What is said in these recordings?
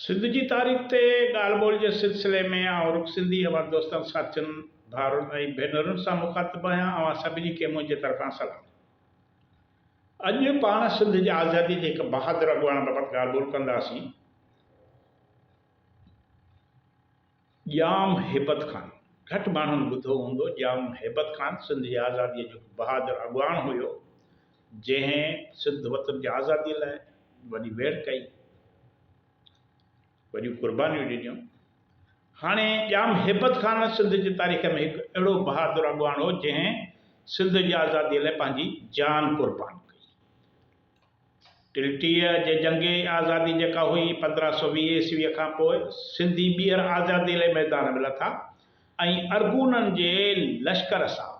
سنڌ جي تاريخ تي ڳالهه ٻولهه جي سلسلي ۾ آئون رڳو سنڌي اوهان دوستن، ساٿين، ڀائرن ۽ ڀينرن سان مخاطب آهيان، اوهان سڀني کي منهنجي طرفان سلام. اڄ پاڻ سنڌ جي آزادي جي هڪ بهادر اڳواڻ بابت ڳالهه ٻولهه ڪنداسين. ڄام هيبت خان، گهٽ ماڻهن ٻڌو هوندو، ڄام هيبت خان سنڌ جي آزاديء جو هڪ بهادر اڳواڻ هيو، جنهن سنڌ وطن جي آزاديء لاء وڏي ويڙهه ڪئي، وڏيون قربانيون ڏنيون. هاڻي ڄام هيبت خان سنڌ جي تاريخ ۾ هڪ اهڙو بهادر اڳواڻ هو، جنهن سنڌ جي آزاديء لاء پنهنجي جان قربان ڪئي. ٽلٽيء جي جنگ آزادي جيڪا هئي پندرهن سؤ ويهه عيسويء کان پوء سنڌي ٻيهر آزاديء لئي ميدان ۾ لٿا ۽ ارغونن جي لشڪر سان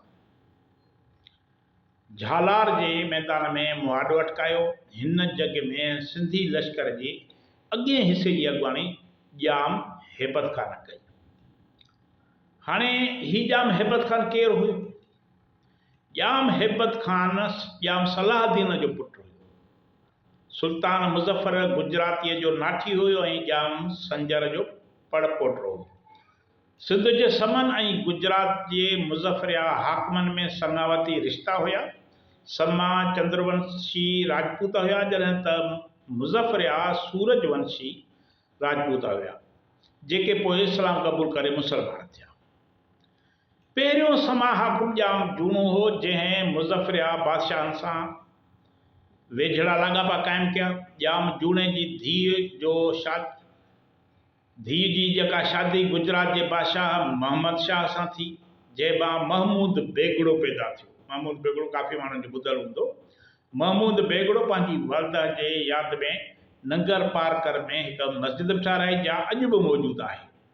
جهالار جي ميدان ۾ مهاڏو اٽڪايو. هن جڳ ۾ سنڌي لشڪر جي اڳئين حصي جي اڳواڻي ڄام هيبت خان ڪئي. هاڻي هي ڄام هيبت خان ڪير هيو؟ ڄام هيبت خان ڄام صلاح الدين جو پٽ هيو. سلطان مظفر گجراتيء جو ناٺي هيو ۽ ڄام سنجر جو پڙ پوٽو هيو. سنڌ جي سمن ۽ گجرات جي مظفريا حاڪمن ۾ سڱاوتي رشتا هيا. سما چندرونشي راجپوت هيا جڏهن ته مظفريا سورج ونشي راجپوت هيا، جيڪي پوء اسلام قبول ڪري مسلمان ٿيا. پهريون سما حاڪم ڄام جوڻو هو، جنهن مظفريا بادشاهن سان ويجهڙا لاڳاپا قائم ڪيا. ڄام جوڻي جي ڌيء جو شاد ڌيء جي جيڪا شادي گجرات جي بادشاهه محمد شاهه سان ٿي، جنهن مان محمود بيگڙو پيدا ٿيو. محمود بيگڙو ڪافي ماڻهن جو ٻڌل هوندو. محمود بيگڙو پنهنجي والده جي ياد ۾ ننگر پارڪر ۾ هڪ مسجد به ٺهرائي، جا اڄ به موجود آهي.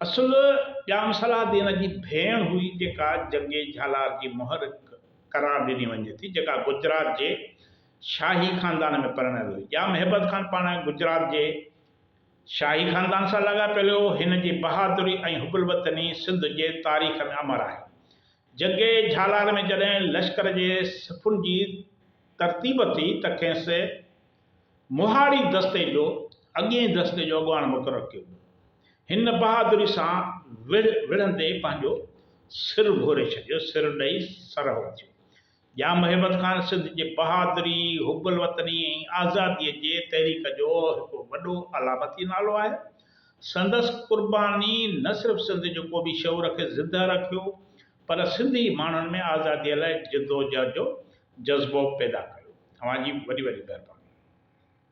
اصل ڄام صلاح الدين جي ڀيڻ هئي جيڪا جنگي جهالار جي مهر قرار ڏني وڃي ٿي جيڪا گجرات جي شاهي خاندان ۾ پرڻيل هئي. ڄام هيبت خان پاڻ گجرات جي شاهي خاندان سان لاڳاپيل هو. هن جي بهادري ۽ حب الوطني سنڌ جي تاريخ ۾ امر آهي. جنگي جهالار ۾ جڏهن لشڪر جي صفن جي ترتيب ٿي ته کيس مهاڙي دستي جو اڳئين دستي جو اڳواڻ مقرر ڪيو ويو. هن بهادري سان وڙهه وڙهندي پنهنجو سر ڀوري ڇڏيو، سر ڏئي سرهو ٿيو. ڄام هيبت خان سنڌ جي بهادري، حب الوطني ۽ آزاديء جي تحريڪ جو هڪ وڏو علامتي نالو آهي. سندس قرباني نه صرف سنڌ جو قومي شعور کي زندهه رکيو، پر سنڌي ماڻهن ۾ آزاديء لاء جدوجهد جو جذبو پيدا ڪيو. اوهان جي وڏي وڏي مهرباني.